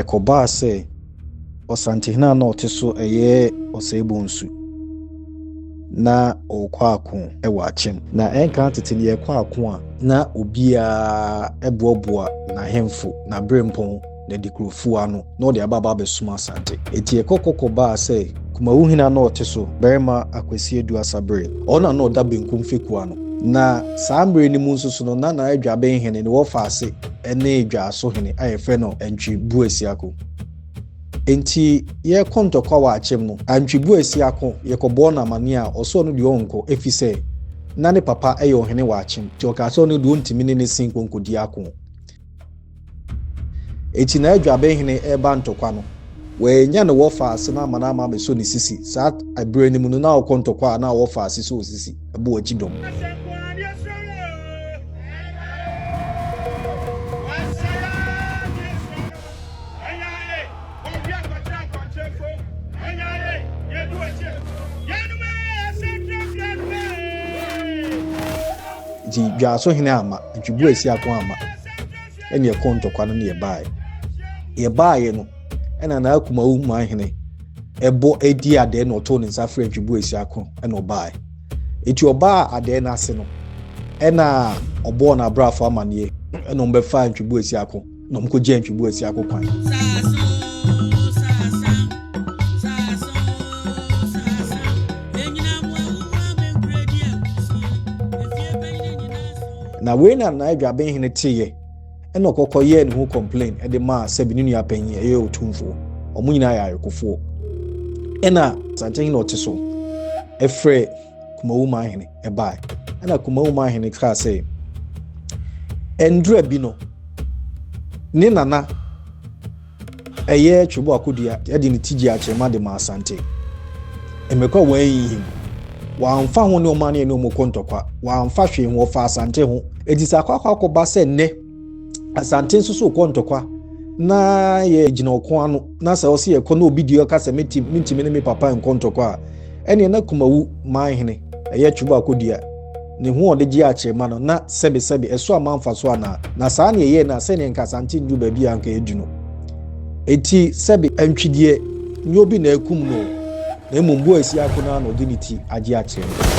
Ɛkɔbaa sɛ ɔsantehene a na ɔte so yɛ Ɔsɛebɔ Nsu na ɔrekɔ ako wɔ akyɛm. Na ɛnka tete no yɛkɔ ako a, na obiara boaboa n'ahemfo, n'aberempɔn, n'adikurofo ano na ɔde aba aba abɛsom Asante. Enti ɛkɔ kɔ kɔbaa sɛ Kumawu hene a na ɔte so, Barima Akwasi Adu Asaberɛ, ɔno na na ɔda benkum fekua ano. Na saa mmerɛ no mu nso so no, na Naya Dwaben hene no wɔ faase. ne dwaaso hene a yɛfrɛ no Antwi Buasiako. Enti yɛkɔ ntɔkwa wɔ akyem no, Antwi Buasiako yɛkɔbɔɔ no amanneɛ a ɔsɛ ɔno deɛ ɔnkɔ efisɛ na ne papa yɛ ɔhene wɔ akyem nti ɔkaa sɛ ɔno deɛ ɔntumi ne ne sen nkɔnkɔdi ako. Enti na Adwabehene reba ntɔkwa no, wannya ne wɔfaase no amma no ama abɛsɔ ne sisi. Saa berɛ no mu no na ɔkɔ ntɔkwa a na wɔfaase sɔ sisi. bɔ akyi dɔm. Nti dwaaso hene ama, ntwibu asi ako ama, ɛne ɛkɔ ntɔkwa no ne yɛbaeɛ. Yɛbaeɛ no, ɛna na akumawo man hene bɔ dii adɛɛ na ɔtoo ne nsa frɛɛ ntweboa asia ko na ɔbaae. Enti ɔbaa adɛɛ no ase no, ɛna ɔbɔɔ n'abrafo amanneɛ na wɔbɛfaa ntweboa asia ko na wɔkɔgyaa ntweboa asia ko kwan. Na wei na Nai Dwabenhene teeɛ. Ɛnna ɔkɔkɔ yɛɛ ne ho complain de maa sɛbi ne nua panyin ɛyɛ otumfoɔ. Wɔn nyinaa yɛ ayekofoɔ. Ɛnna Sankye hene ɔte so ɛfrɛ Kumawu man hene ɛbae. Ɛnna Kumawu man hene kaa sɛ, ɛndura bi no, ne nana Ɛyɛ Twebo akodua de ne ti gyee akyerema de maa Asante. Mmirika a wɔanhinhim. Wɔamfa ho nneɛma a na yɛne wɔn rekɔ ntɔkwa. Wɔamfa hwee ho. Wɔfaa Asante ho. Enti sɛ akɔ akɔ akɔba sɛ nnɛ Asante nso so rekɔ ntɔkwa na yɛgyina ɔko ano na sɛ ɔsɛ yɛkɔ na obi deɛ ɔka sɛ mentumi ne me papa nkɔ ntɔkwa a, ɛneɛ na Kumawu manhene ɛyɛ Twebo akodua. Ne ho a ɔde gyee akyerema no, na sɛbesɛbe ɛso amma mfaso anaa? Na saa na ɛyɛe, na sɛdeɛ anka Asante nnuru baabi a anka ɛadu no, enti sɛbe. Antwideɛ nyɛ obi na akum no o, na mmom Boasiako no ara na ɔde ne ti agye akyerema.